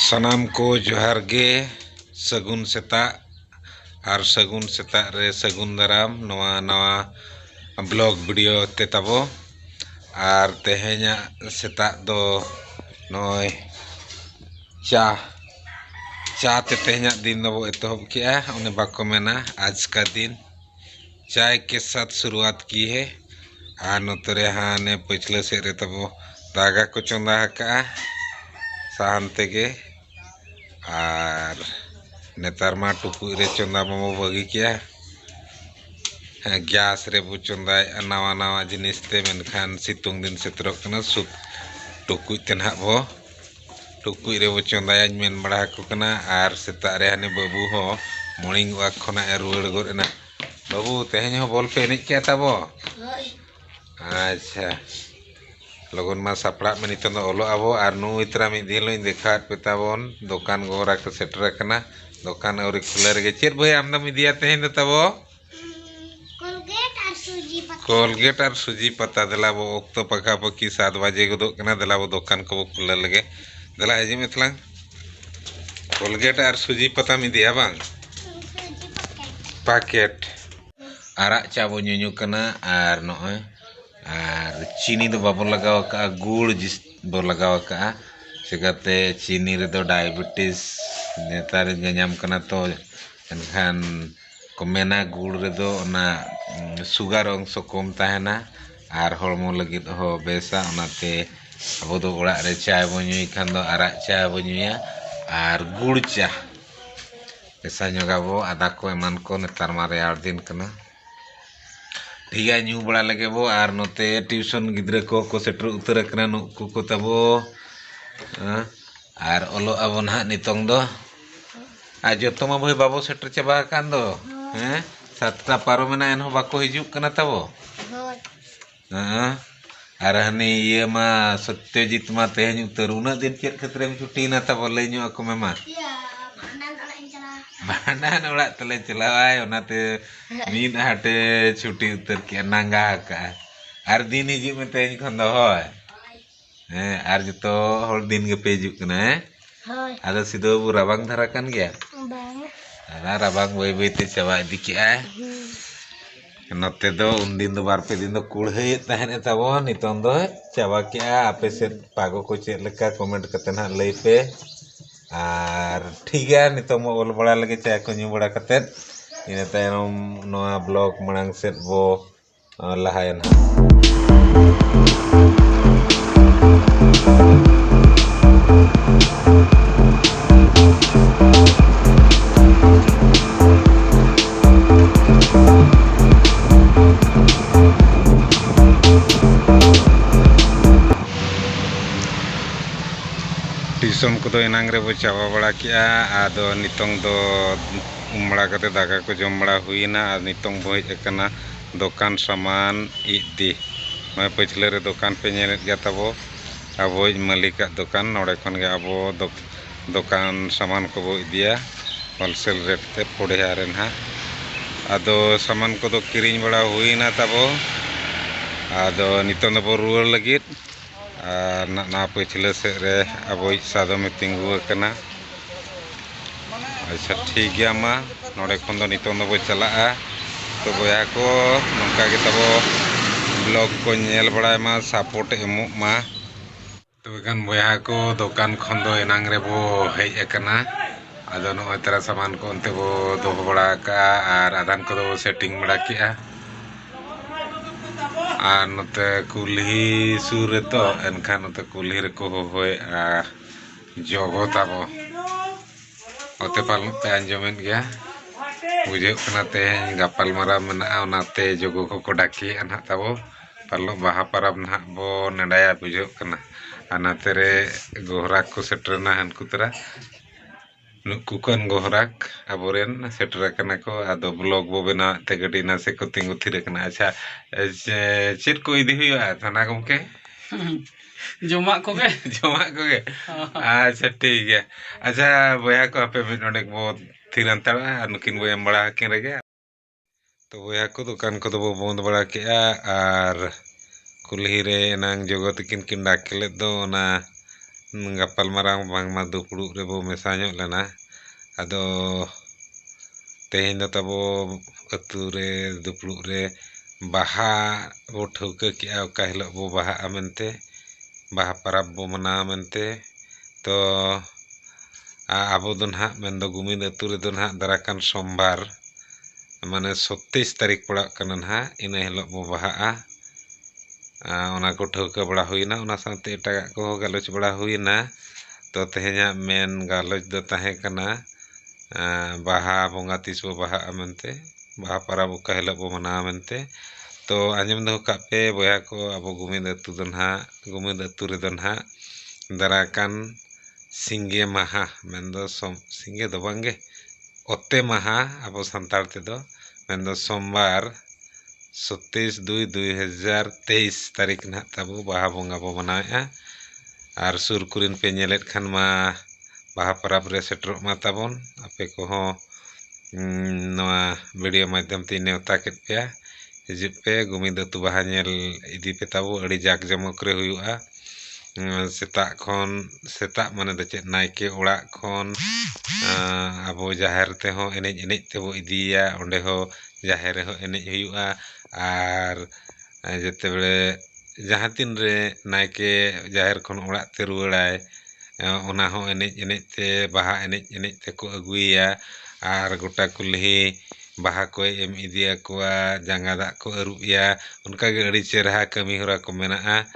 ᱥᱟᱱᱟᱢ ᱠᱚ ᱡᱚᱦᱟᱨ ᱜᱮ ᱥᱟᱹᱜᱩᱱ ᱥᱮᱛᱟᱜ ᱟᱨ ᱥᱟᱹᱜᱩᱱ ᱥᱮᱛᱟᱜ ᱨᱮ ᱥᱟᱹᱜᱩᱱ ᱫᱟᱨᱟᱢ ᱱᱚᱣᱟ ᱱᱟᱣᱟ ᱵᱞᱚᱜ ᱵᱷᱤᱰᱤᱭᱳ ᱛᱮ ᱛᱟᱵᱚ ᱟᱨ ᱛᱮᱦᱮᱧᱟᱜ ᱥᱮᱛᱟᱜ ᱫᱚ ᱱᱚᱜᱼᱚᱭ ᱪᱟ ᱪᱟ ᱛᱮ ᱛᱮᱦᱮᱧᱟᱜ ᱫᱤᱱ ᱫᱚᱵᱚ ᱮᱛᱚᱦᱚᱵ ᱠᱮᱜᱼᱟ ᱚᱱᱮ ᱵᱟᱠᱚ ᱢᱮᱱᱟ ᱟᱡᱽ ᱠᱟ ᱫᱤᱱ ᱪᱟᱭ ᱠᱮ ᱥᱟᱛᱷ ᱥᱩᱨᱩᱣᱟᱛ ᱠᱤ ᱦᱮ ᱟᱨ ᱱᱚᱛᱮ ᱨᱮ ᱦᱟᱱᱮ ᱯᱟᱹᱪᱷᱞᱟᱹ ᱥᱮᱫ ᱨᱮ ᱛᱟᱵᱚ ᱫᱟᱠᱟ ᱠᱚ ᱪᱚᱸᱫᱟ ᱟᱠᱟᱜᱼᱟ ᱥᱟᱦᱟᱱ ᱛᱮᱜᱮ ᱟᱨ ᱱᱮᱛᱟᱨ ᱢᱟ ᱴᱩᱠᱩᱡ ᱨᱮ ᱪᱚᱸᱫᱟ ᱢᱟᱵᱚ ᱵᱟᱹᱜᱤ ᱠᱮᱜᱼᱟ ᱦᱮᱸ ᱜᱮᱥ ᱨᱮᱵᱚ ᱪᱚᱸᱫᱟᱭᱮᱜᱼᱟ ᱱᱟᱣᱟ ᱱᱟᱣᱟ ᱡᱤᱱᱤᱥ ᱛᱮ ᱢᱮᱱᱠᱷᱟᱱ ᱥᱤᱛᱩᱝ ᱫᱤᱱ ᱥᱮᱴᱮᱨᱚᱜ ᱠᱟᱱᱟ ᱥᱩᱠ ᱴᱩᱠᱩᱡ ᱛᱮ ᱱᱟᱜ ᱵᱚ ᱴᱩᱠᱩᱡ ᱨᱮᱵᱚ ᱪᱚᱸᱫᱟᱭᱟᱧ ᱢᱮᱱ ᱵᱟᱲᱟ ᱟᱠᱚ ᱠᱟᱱᱟ ᱟᱨ ᱥᱮᱛᱟᱜ ᱨᱮ ᱦᱟᱹᱱᱤ ᱵᱟᱹᱵᱩ ᱦᱚᱸ ᱢᱚᱨᱱᱤᱝ ᱚᱣᱟᱠ ᱠᱷᱚᱱᱟᱜ ᱮ ᱨᱩᱣᱟᱹᱲ ᱜᱚᱫ ᱮᱱᱟ ᱵᱟᱹᱵᱩ ᱛᱮᱦᱮᱧ ᱦᱚᱸ ᱵᱚᱞ ᱯᱮ ᱮᱱᱮᱡ ᱠᱮᱜᱼᱟ ᱛᱟᱵᱚ ᱟᱪᱪᱷᱟ ᱞᱚᱜᱚᱱ ᱢᱟ ᱥᱟᱯᱲᱟᱜ ᱢᱮ ᱱᱤᱛᱚᱝ ᱫᱚ ᱚᱞᱚᱜ ᱟᱵᱚ ᱟᱨ ᱱᱩᱭ ᱛᱚᱨᱟ ᱢᱤᱫ ᱫᱤᱱ ᱦᱤᱞᱳᱜ ᱤᱧ ᱫᱮᱠᱷᱟᱣᱟᱫ ᱯᱮ ᱛᱟᱵᱚᱱ ᱫᱚᱠᱟᱱ ᱜᱚᱦᱚᱨᱟ ᱠᱚ ᱥᱮᱴᱮᱨ ᱟᱠᱟᱱᱟ ᱫᱚᱠᱟᱱ ᱟᱹᱣᱨᱤ ᱠᱷᱩᱞᱟᱹᱣ ᱨᱮᱜᱮ ᱪᱮᱫ ᱵᱳᱭ ᱟᱢ ᱫᱚᱢ ᱤᱫᱤᱭᱟ ᱛᱮᱦᱮᱧ ᱫᱚ ᱛᱟᱵᱚ ᱠᱚᱞᱜᱮᱴ ᱟᱨ ᱥᱩᱡᱤ ᱯᱟᱛᱟ ᱫᱮᱞᱟ ᱵᱚ ᱚᱠᱛᱚ ᱯᱟᱠᱟ ᱯᱟᱠᱤ ᱥᱟᱛ ᱵᱟᱡᱮ ᱜᱚᱫᱚᱜ ᱠᱟᱱᱟ ᱫᱮᱞᱟ ᱵᱚ ᱫᱚᱠᱟᱱ ᱠᱚᱵᱚ ᱠᱷᱩᱞᱟᱹᱣ ᱞᱮᱜᱮ ᱫᱮᱞᱟ ᱦᱤᱡᱩᱜ ᱢᱮ ᱛᱟᱞᱟᱝ ᱠᱚᱞᱜᱮᱴ ᱟᱨ ᱥᱩᱡᱤ ᱯᱟᱛᱟᱢ ᱤᱫᱤᱭᱟ ᱵᱟᱝ ᱯᱟᱠᱮᱴ ᱟᱨᱟᱜ ᱪᱟ ᱵᱚ ᱧᱩᱧᱩ ᱠᱟᱱᱟ ᱟᱨ ᱱᱚᱜᱼᱚᱭ ᱟᱨ ᱪᱤᱱᱤ ᱫᱚ ᱵᱟᱵᱚ ᱞᱟᱜᱟᱣ ᱟᱠᱟᱜᱼᱟ ᱜᱩᱲ ᱡᱤᱥ ᱵᱚ ᱞᱟᱜᱟᱣ ᱟᱠᱟᱜᱼᱟ ᱪᱤᱠᱟᱹᱛᱮ ᱪᱤᱱᱤ ᱨᱮᱫᱚ ᱰᱟᱭᱟᱵᱮᱴᱤᱥ ᱱᱮᱛᱟᱨ ᱧᱟᱧᱟᱢ ᱠᱟᱱᱟ ᱛᱚ ᱮᱱᱠᱷᱟᱱ ᱠᱚ ᱢᱮᱱᱟ ᱜᱩᱲ ᱨᱮᱫᱚ ᱚᱱᱟ ᱥᱩᱜᱟᱨ ᱚᱝᱥᱚ ᱠᱚᱢ ᱛᱟᱦᱮᱱᱟ ᱟᱨ ᱦᱚᱲᱢᱚ ᱞᱟᱹᱜᱤᱫ ᱦᱚᱸ ᱵᱮᱥᱟ ᱚᱱᱟᱛᱮ ᱟᱵᱚ ᱫᱚ ᱚᱲᱟᱜ ᱨᱮ ᱪᱟᱭ ᱵᱚᱱ ᱧᱩᱭ ᱠᱷᱟᱱ ᱫᱚ ᱟᱨᱟᱜ ᱪᱟ ᱵᱚᱱ ᱧᱩᱭᱟ ᱟᱨ ᱜᱩᱲ ᱪᱟ ᱢᱮᱥᱟ ᱧᱚᱜᱽ ᱟᱵᱚ ᱟᱫᱟ ᱠᱚ ᱮᱢᱟᱱ ᱠᱚ ᱱᱮᱛᱟᱨ ᱢᱟ ᱨᱮᱭᱟᱲ ᱫᱤᱱ ᱠᱟᱱᱟ ᱴᱷᱤᱠ ᱜᱮᱭᱟ ᱧᱩ ᱵᱟᱲᱟ ᱞᱮᱜᱮ ᱵᱚ ᱟᱨ ᱱᱚᱛᱮ ᱴᱤᱭᱩᱥᱚᱱ ᱜᱤᱫᱽᱨᱟᱹ ᱠᱚ ᱠᱚ ᱥᱮᱴᱮᱨ ᱩᱛᱟᱹᱨ ᱟᱠᱟᱱᱟ ᱱᱩᱠᱩ ᱠᱚ ᱛᱟᱵᱚ ᱟᱨ ᱚᱞᱚᱜ ᱟᱵᱚᱱ ᱦᱟᱸᱜ ᱱᱤᱛᱚᱝ ᱫᱚ ᱟᱨ ᱡᱚᱛᱚ ᱢᱟ ᱵᱷᱟᱹᱭ ᱵᱟᱵᱚ ᱥᱮᱴᱮᱨ ᱪᱟᱵᱟ ᱟᱠᱟᱱ ᱫᱚ ᱦᱮᱸ ᱥᱟᱛᱴᱟ ᱯᱟᱨᱚᱢᱮᱱᱟ ᱮᱱᱦᱚᱸ ᱵᱟᱠᱚ ᱦᱤᱡᱩᱜ ᱠᱟᱱᱟ ᱛᱟᱵᱚ ᱦᱳᱭ ᱦᱮᱸ ᱟᱨ ᱦᱟᱹᱱᱤ ᱤᱭᱟᱹ ᱢᱟ ᱥᱚᱛᱭᱚᱡᱤᱛ ᱢᱟ ᱛᱮᱦᱮᱧ ᱩᱛᱟᱹᱨ ᱩᱱᱟᱹᱜ ᱫᱤᱱ ᱪᱮᱫ ᱠᱷᱟᱹᱛᱤᱨᱮᱢ ᱪᱷᱩᱴᱤᱭᱮᱱᱟ ᱛᱟᱵᱚ ᱞᱟᱹᱭ ᱧᱚᱜ ᱟᱠᱚ ᱢᱮ ᱢᱟ ᱵᱷᱟᱸᱰᱟᱱ ᱚᱲᱟᱜ ᱛᱮᱞᱮ ᱪᱟᱞᱟᱣᱟᱭ ᱚᱱᱟᱛᱮ ᱢᱤᱫ ᱦᱟᱴᱮ ᱪᱷᱩᱴᱤ ᱩᱛᱟᱹᱨ ᱠᱮᱜᱼᱟ ᱱᱟᱸᱜᱟ ᱟᱠᱟᱜᱼᱟ ᱟᱨ ᱫᱤᱱ ᱦᱤᱡᱩᱜ ᱢᱮ ᱛᱮᱦᱮᱧ ᱠᱷᱚᱱ ᱫᱚ ᱦᱳᱭ ᱦᱮᱸ ᱟᱨ ᱡᱚᱛᱚ ᱦᱚᱲ ᱫᱤᱱ ᱜᱮᱯᱮ ᱦᱤᱡᱩᱜ ᱠᱟᱱᱟ ᱦᱮᱸ ᱦᱳᱭ ᱟᱫᱚ ᱥᱤᱫᱩ ᱵᱟᱹᱵᱩ ᱨᱟᱵᱟᱝ ᱫᱷᱟᱨᱟ ᱠᱟᱱ ᱜᱮᱭᱟ ᱵᱟᱝ ᱚᱱᱟ ᱨᱟᱵᱟᱝ ᱵᱟᱹᱭ ᱵᱟᱹᱭᱛᱮ ᱪᱟᱵᱟ ᱤᱫᱤ ᱠᱮᱜᱼᱟᱭ ᱱᱚᱛᱮ ᱫᱚ ᱩᱱᱫᱤᱱ ᱫᱚ ᱵᱟᱨ ᱯᱮ ᱫᱤᱱ ᱫᱚ ᱠᱩᱲᱦᱟᱹᱭᱮᱫ ᱛᱟᱦᱮᱸᱫ ᱮ ᱛᱟᱵᱚᱱ ᱱᱤᱛᱚᱝ ᱫᱚ ᱪᱟᱵᱟ ᱠᱮᱜᱼᱟ ᱟᱯᱮ ᱥᱮᱫ ᱯᱟᱜᱚ ᱠᱚ ᱪᱮᱫ ᱞᱮᱠᱟ ᱠᱚᱢᱮᱱᱴ ᱠᱟᱛᱮ ᱱᱟᱦᱟᱜ ᱞᱟᱹᱭ ᱯᱮ ᱟᱨ ᱴᱷᱤᱠ ᱜᱮᱭᱟ ᱱᱤᱛᱚᱝ ᱢᱟ ᱚᱞ ᱵᱟᱲᱟ ᱞᱮᱜᱮ ᱪᱟ ᱠᱚ ᱧᱩ ᱵᱟᱲᱟ ᱠᱟᱛᱮᱫ ᱤᱱᱟᱹ ᱛᱟᱭᱚᱢ ᱱᱚᱣᱟ ᱵᱞᱚᱜᱽ ᱢᱟᱲᱟᱝ ᱥᱮᱫ ᱵᱚ ᱞᱟᱦᱟᱭᱟ ᱱᱟᱦᱟᱜ ᱴᱤᱭᱩᱥᱚᱱ ᱠᱚᱫᱚ ᱮᱱᱟᱝ ᱨᱮᱵᱚ ᱪᱟᱵᱟ ᱵᱟᱲᱟ ᱠᱮᱜᱼᱟ ᱟᱫᱚ ᱱᱤᱛᱚᱝ ᱫᱚ ᱩᱢ ᱵᱟᱲᱟ ᱠᱟᱛᱮ ᱫᱟᱠᱟ ᱠᱚ ᱡᱚᱢ ᱵᱟᱲᱟ ᱦᱩᱭᱮᱱᱟ ᱟᱨ ᱱᱤᱛᱚᱝ ᱵᱚ ᱦᱮᱡ ᱟᱠᱟᱱᱟ ᱫᱚᱠᱟᱱ ᱥᱟᱢᱟᱱ ᱤᱫᱤ ᱱᱚᱜᱼᱚᱭ ᱯᱟᱹᱪᱷᱞᱟᱹ ᱨᱮ ᱫᱚᱠᱟᱱ ᱯᱮ ᱧᱮᱞᱮᱫ ᱜᱮᱭᱟ ᱛᱟᱵᱚ ᱟᱵᱚᱭᱤᱡ ᱢᱟᱹᱞᱤᱠᱟᱜ ᱫᱚᱠᱟᱱ ᱱᱚᱰᱮ ᱠᱷᱚᱱ ᱜᱮ ᱟᱵᱚ ᱫᱚ ᱫᱚᱠᱟᱱ ᱥᱟᱢᱟᱱ ᱠᱚᱵᱚ ᱤᱫᱤᱭᱟ ᱦᱳᱞᱥᱮᱞ ᱨᱮᱴ ᱛᱮ ᱯᱚᱲᱭᱟ ᱨᱮ ᱱᱟᱦᱟᱜ ᱟᱫᱚ ᱥᱟᱢᱟᱱ ᱠᱚᱫᱚ ᱠᱤᱨᱤᱧ ᱵᱟᱲᱟ ᱦᱩᱭᱮᱱᱟ ᱛᱟᱵᱚ ᱟᱫᱚ ᱱᱤᱛᱚᱝ ᱫᱚᱵᱚ ᱨᱩᱣᱟᱹᱲ ᱞᱟᱹᱜᱤᱫ ᱟᱨ ᱱᱚᱣᱟ ᱯᱟᱹᱪᱷᱞᱟᱹ ᱥᱮᱫ ᱨᱮ ᱟᱵᱚᱭᱤᱡ ᱥᱟᱫᱚᱢᱮ ᱛᱤᱸᱜᱩ ᱟᱠᱟᱱᱟ ᱟᱪᱪᱷᱟ ᱴᱷᱤᱠ ᱜᱮᱭᱟ ᱢᱟ ᱱᱚᱰᱮ ᱠᱷᱚᱱ ᱫᱚ ᱱᱤᱛᱚᱝ ᱫᱚᱵᱚ ᱪᱟᱞᱟᱜᱼᱟ ᱛᱚ ᱵᱚᱭᱦᱟ ᱠᱚ ᱱᱚᱝᱠᱟ ᱜᱮ ᱛᱟᱵᱚ ᱵᱞᱚᱜᱽ ᱠᱚ ᱧᱮᱞ ᱵᱟᱲᱟᱭ ᱢᱟ ᱥᱟᱯᱳᱨᱴ ᱮᱢᱚᱜ ᱢᱟ ᱛᱚᱵᱮ ᱠᱷᱟᱱ ᱵᱚᱭᱦᱟ ᱠᱚ ᱫᱚᱠᱟᱱ ᱠᱷᱚᱱ ᱫᱚ ᱮᱱᱟᱝ ᱨᱮᱵᱚ ᱦᱮᱡ ᱟᱠᱟᱱᱟ ᱟᱫᱚ ᱱᱚᱜᱼᱚᱭ ᱛᱟᱨᱟ ᱥᱟᱢᱟᱱ ᱠᱚ ᱚᱱᱛᱮ ᱵᱚ ᱫᱚᱦᱚ ᱵᱟᱲᱟ ᱠᱟᱜᱼᱟ ᱟᱨ ᱟᱫᱷᱟᱱ ᱠᱚᱫᱚ ᱵᱚ ᱥᱮᱴᱤᱝ ᱵᱟᱲᱟ ᱠᱮᱜᱼᱟ ᱟᱨ ᱱᱚᱛᱮ ᱠᱩᱞᱦᱤ ᱥᱩᱨ ᱨᱮᱛᱚ ᱮᱱᱠᱷᱟᱱ ᱱᱚᱛᱮ ᱠᱩᱞᱦᱤ ᱨᱮᱠᱚ ᱦᱚᱦᱚᱭᱮᱫᱼᱟ ᱡᱚᱜᱚ ᱛᱟᱵᱚ ᱚᱛᱮ ᱯᱟᱞᱚᱱ ᱯᱮ ᱟᱸᱡᱚᱢᱮᱫ ᱜᱮᱭᱟ ᱵᱩᱡᱷᱟᱹᱜ ᱠᱟᱱᱟ ᱛᱮᱦᱮᱧ ᱜᱟᱯᱟᱞᱢᱟᱨᱟᱣ ᱢᱮᱱᱟᱜᱼᱟ ᱚᱱᱟᱛᱮ ᱡᱚᱜᱚ ᱠᱚᱠᱚ ᱰᱟᱠᱮᱭᱮᱫᱼᱟ ᱱᱟᱜ ᱛᱟᱵᱚ ᱯᱟᱞᱮᱫ ᱵᱟᱦᱟ ᱯᱚᱨᱚᱵᱽ ᱱᱟᱜ ᱵᱚ ᱱᱮᱰᱟᱭᱟ ᱵᱩᱡᱷᱟᱹᱜ ᱠᱟᱱᱟ ᱟᱨ ᱱᱚᱛᱮ ᱨᱮ ᱜᱚᱦᱨᱟᱠ ᱠᱚ ᱥᱮᱴᱮᱨᱮᱱᱟ ᱦᱟᱹᱱᱠᱩ ᱛᱚᱨᱟ ᱱᱩᱠᱩ ᱠᱷᱚᱱ ᱜᱚᱦᱨᱟᱠ ᱟᱵᱚᱨᱮᱱ ᱥᱮᱴᱮᱨ ᱟᱠᱟᱱᱟ ᱠᱚ ᱟᱫᱚ ᱵᱞᱚᱠ ᱵᱚ ᱵᱮᱱᱟᱣ ᱮᱫ ᱛᱮ ᱜᱟᱹᱰᱤ ᱱᱟᱥᱮ ᱠᱚ ᱛᱤᱸᱜᱩ ᱛᱷᱤᱨ ᱟᱠᱟᱱᱟ ᱟᱪᱪᱷᱟ ᱪᱮᱫ ᱠᱚ ᱤᱫᱤ ᱦᱩᱭᱩᱜᱼᱟ ᱛᱷᱟᱱᱟ ᱜᱚᱢᱠᱮ ᱡᱚᱢᱟᱜ ᱠᱚᱜᱮ ᱡᱚᱢᱟᱜ ᱠᱚᱜᱮ ᱟᱪᱪᱷᱟ ᱴᱷᱤᱠ ᱜᱮᱭᱟ ᱟᱪᱪᱷᱟ ᱵᱚᱭᱦᱟ ᱠᱚ ᱟᱯᱮ ᱢᱤᱫ ᱰᱚᱸᱰᱮᱠ ᱵᱚ ᱛᱷᱤᱨ ᱦᱟᱱᱛᱟᱲᱚᱜᱼᱟ ᱟᱨ ᱱᱩᱠᱤᱱ ᱵᱚ ᱮᱢ ᱵᱟᱲᱟ ᱟᱹᱠᱤᱱ ᱨᱮᱜᱮ ᱛᱚ ᱵᱚᱭᱦᱟ ᱠᱚ ᱫᱚᱠᱟᱱ ᱠᱚᱫᱚ ᱵᱚ ᱵᱚᱸᱫᱽ ᱵᱟᱲᱟ ᱠᱮᱜᱼᱟ ᱟᱨ ᱠᱩᱞᱦᱤ ᱨᱮ ᱮᱱᱟᱝ ᱡᱚᱜᱚ ᱛᱤᱠᱤᱱ ᱠᱤᱱ ᱰᱟᱠ ᱞᱮᱫ ᱫᱚ ᱚᱱᱟ ᱜᱟᱯᱟᱞ ᱢᱟᱨᱟᱣ ᱵᱟᱝᱢᱟ ᱫᱩᱯᱲᱩᱵ ᱨᱮᱵᱚ ᱢᱮᱥᱟ ᱧᱚᱜ ᱞᱮᱱᱟ ᱟᱫᱚ ᱛᱮᱦᱮᱧ ᱫᱚ ᱛᱟᱵᱚ ᱟᱹᱛᱩ ᱨᱮ ᱫᱩᱯᱲᱩᱵ ᱨᱮ ᱵᱟᱦᱟ ᱵᱚ ᱴᱷᱟᱹᱣᱠᱟᱹ ᱠᱮᱜᱼᱟ ᱚᱠᱟ ᱦᱤᱞᱳᱜ ᱵᱚ ᱵᱟᱦᱟᱜᱼᱟ ᱢᱮᱱᱛᱮ ᱵᱟᱦᱟ ᱯᱟᱨᱟᱵᱽ ᱵᱚ ᱢᱟᱱᱟᱣᱟ ᱢᱮᱱᱛᱮ ᱛᱚ ᱟᱵᱚ ᱫᱚ ᱱᱟᱜ ᱢᱮᱱ ᱫᱚ ᱜᱩᱢᱤᱫ ᱟᱹᱛᱩ ᱨᱮᱫᱚ ᱱᱟᱜ ᱫᱟᱨᱟᱭ ᱠᱟᱱ ᱥᱳᱢᱵᱟᱨ ᱢᱟᱱᱮ ᱥᱚᱛᱛᱨᱤᱥ ᱛᱟᱹᱨᱤᱠᱷ ᱯᱟᱲᱟᱜ ᱠᱟᱱᱟ ᱱᱟᱜ ᱤᱱᱟᱹ ᱦᱤᱞᱳᱜ ᱵᱚ ᱵᱟᱦᱟᱜᱼᱟ ᱚᱱᱟ ᱠᱚ ᱴᱷᱟᱹᱣᱠᱟᱹ ᱵᱟᱲᱟ ᱦᱩᱭᱮᱱᱟ ᱚᱱᱟ ᱥᱟᱶᱛᱮ ᱮᱴᱟᱜᱟᱜ ᱠᱚᱦᱚᱸ ᱜᱟᱞᱚᱪ ᱵᱟᱲᱟ ᱦᱩᱭᱮᱱᱟ ᱛᱚ ᱛᱮᱦᱮᱧᱟᱜ ᱢᱮᱱ ᱜᱟᱞᱚᱪ ᱫᱚ ᱛᱟᱦᱮᱸ ᱠᱟᱱᱟ ᱵᱟᱦᱟ ᱵᱚᱸᱜᱟ ᱛᱤᱥ ᱵᱚ ᱵᱟᱦᱟᱜᱼᱟ ᱢᱮᱱᱛᱮ ᱵᱟᱦᱟ ᱯᱟᱨᱟᱵᱽ ᱚᱠᱟ ᱦᱤᱞᱳᱜ ᱵᱚ ᱢᱟᱱᱟᱣᱟ ᱢᱮᱱᱛᱮ ᱛᱚ ᱟᱸᱡᱚᱢ ᱫᱚᱦᱚ ᱠᱟᱜ ᱯᱮ ᱵᱚᱭᱦᱟ ᱠᱚ ᱟᱵᱚ ᱜᱩᱢᱤᱫ ᱟᱹᱛᱩ ᱫᱚ ᱱᱟᱜ ᱜᱩᱢᱤᱫ ᱟᱹᱛᱩ ᱨᱮᱫᱚ ᱱᱟᱜ ᱫᱟᱨᱟᱭ ᱠᱟᱱ ᱥᱤᱸᱜᱮ ᱢᱟᱦᱟ ᱢᱮᱱᱫᱚ ᱥᱤᱸᱜᱮ ᱫᱚ ᱵᱟᱝᱜᱮ ᱚᱛᱮ ᱢᱟᱦᱟ ᱟᱵᱚ ᱥᱟᱱᱛᱟᱲ ᱛᱮᱫᱚ ᱢᱮᱱᱫᱚ ᱥᱳᱢᱵᱟᱨ ᱥᱚᱛᱮᱭᱤᱥ ᱫᱩᱭ ᱫᱩᱭ ᱦᱟᱡᱟᱨ ᱛᱮᱭᱤᱥ ᱛᱟᱹᱨᱤᱠᱷ ᱱᱟᱦᱟᱜ ᱛᱟᱵᱚ ᱵᱟᱦᱟ ᱵᱚᱸᱜᱟ ᱵᱚ ᱢᱟᱱᱟᱣᱮᱫᱼᱟ ᱟᱨ ᱥᱩᱨ ᱠᱚᱨᱮᱱ ᱯᱮ ᱧᱮᱞᱮᱫ ᱠᱷᱟᱱ ᱢᱟ ᱵᱟᱦᱟ ᱯᱚᱨᱚᱵᱽ ᱨᱮ ᱥᱮᱴᱮᱨᱚᱜ ᱢᱟ ᱛᱟᱵᱚᱱ ᱟᱯᱮ ᱠᱚᱦᱚᱸ ᱱᱚᱣᱟ ᱵᱷᱤᱰᱤᱭᱳ ᱢᱟᱫᱽᱫᱷᱚᱢ ᱛᱤᱧ ᱱᱮᱣᱛᱟ ᱠᱮᱫ ᱯᱮᱭᱟ ᱦᱤᱡᱩᱜ ᱯᱮ ᱜᱳᱵᱤᱱᱫᱚ ᱟᱹᱛᱩ ᱵᱟᱦᱟ ᱧᱮᱞ ᱤᱫᱤ ᱯᱮ ᱛᱟᱵᱚ ᱟᱹᱰᱤ ᱡᱟᱠ ᱡᱚᱢᱚᱠ ᱨᱮ ᱦᱩᱭᱩᱜᱼᱟ ᱥᱮᱛᱟᱜ ᱠᱷᱚᱱ ᱥᱮᱛᱟᱜ ᱢᱟᱱᱮ ᱫᱚ ᱪᱮᱫ ᱱᱟᱭᱠᱮ ᱚᱲᱟᱜ ᱠᱷᱚᱱ ᱟᱵᱚ ᱡᱟᱦᱮᱨ ᱛᱮᱦᱚᱸ ᱮᱱᱮᱡ ᱮᱱᱮᱡ ᱛᱮᱵᱚ ᱤᱫᱤᱭᱮᱭᱟ ᱚᱸᱰᱮ ᱦᱚᱸ ᱡᱟᱦᱮᱨ ᱨᱮᱦᱚᱸ ᱮᱱᱮᱡ ᱦᱩᱭᱩᱜᱼᱟ ᱟᱨ ᱡᱮᱛᱮ ᱵᱟᱲᱮ ᱡᱟᱦᱟᱸ ᱛᱤᱱ ᱨᱮ ᱱᱟᱭᱠᱮ ᱡᱟᱦᱮᱨ ᱠᱷᱚᱱ ᱚᱲᱟᱜ ᱛᱮ ᱨᱩᱣᱟᱹᱲᱟᱭ ᱚᱱᱟ ᱦᱚᱸ ᱮᱱᱮᱡ ᱮᱱᱮᱡ ᱛᱮ ᱵᱟᱦᱟ ᱮᱱᱮᱡ ᱮᱱᱮᱡ ᱛᱮᱠᱚ ᱟᱹᱜᱩᱭᱮᱭᱟ ᱟᱨ ᱜᱚᱴᱟ ᱠᱩᱞᱦᱤ ᱵᱟᱦᱟ ᱠᱚᱭ ᱮᱢ ᱤᱫᱤᱭᱟᱠᱚᱣᱟ ᱡᱟᱸᱜᱟ ᱫᱟᱜ ᱠᱚ ᱟᱹᱨᱩᱵᱮᱭᱟ ᱚᱱᱠᱟ ᱜᱮ ᱟᱹᱰᱤ ᱪᱮᱦᱨᱟ ᱠᱟᱹᱢᱤᱦᱚᱨᱟ ᱠᱚ ᱢᱮᱱᱟᱜᱼᱟ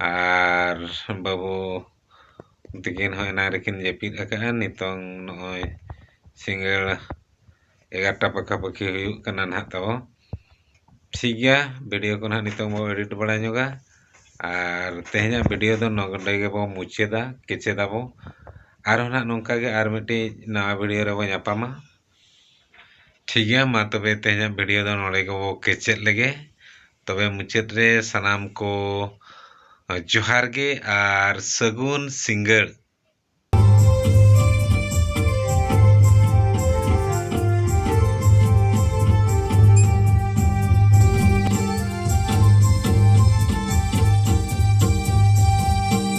ᱟᱨ ᱵᱟᱹᱵᱩ ᱛᱤᱠᱤᱱ ᱦᱚᱸ ᱮᱱᱟᱝ ᱨᱮᱠᱤᱱ ᱡᱟᱹᱯᱤᱫ ᱟᱠᱟᱫᱼᱟ ᱱᱤᱛᱚᱝ ᱱᱚᱜᱼᱚᱭ ᱥᱤᱸᱜᱟᱹᱲ ᱮᱜᱟᱨᱚᱴᱟ ᱯᱟᱠᱷᱟ ᱯᱟᱹᱠᱷᱤ ᱦᱩᱭᱩᱜ ᱠᱟᱱᱟ ᱱᱟᱜ ᱛᱟᱵᱚ ᱴᱷᱤᱠ ᱜᱮᱭᱟ ᱵᱷᱤᱰᱤᱭᱳ ᱠᱚ ᱱᱟᱜ ᱱᱤᱛᱚᱝ ᱵᱚ ᱮᱰᱤᱴ ᱵᱟᱲᱟ ᱧᱚᱜᱟ ᱟᱨ ᱛᱮᱦᱮᱧᱟᱜ ᱵᱷᱤᱰᱤᱭᱳ ᱫᱚ ᱱᱚᱰᱮ ᱜᱮᱵᱚ ᱢᱩᱪᱟᱹᱫᱟ ᱠᱮᱪᱮᱫᱟᱵᱚ ᱟᱨᱦᱚᱸ ᱱᱟᱜ ᱱᱚᱝᱠᱟ ᱜᱮ ᱟᱨ ᱢᱤᱫᱴᱤᱡ ᱱᱟᱣᱟ ᱵᱷᱤᱰᱤᱭᱳ ᱨᱮᱵᱚ ᱧᱟᱯᱟᱢᱟ ᱴᱷᱤᱠ ᱜᱮᱭᱟ ᱢᱟ ᱛᱚᱵᱮ ᱛᱮᱦᱮᱧᱟᱜ ᱵᱷᱤᱰᱤᱭᱳ ᱫᱚ ᱱᱚᱰᱮ ᱜᱮᱵᱚ ᱠᱮᱪᱮᱫ ᱞᱮᱜᱮ ᱛᱚᱵᱮ ᱢᱩᱪᱟᱹᱫ ᱨᱮ ᱥᱟᱱᱟᱢ ᱠᱚ ᱡᱚᱦᱟᱨ ᱜᱮ ᱟᱨ ᱥᱟᱹᱜᱩᱱ ᱥᱤᱸᱜᱟᱹᱲ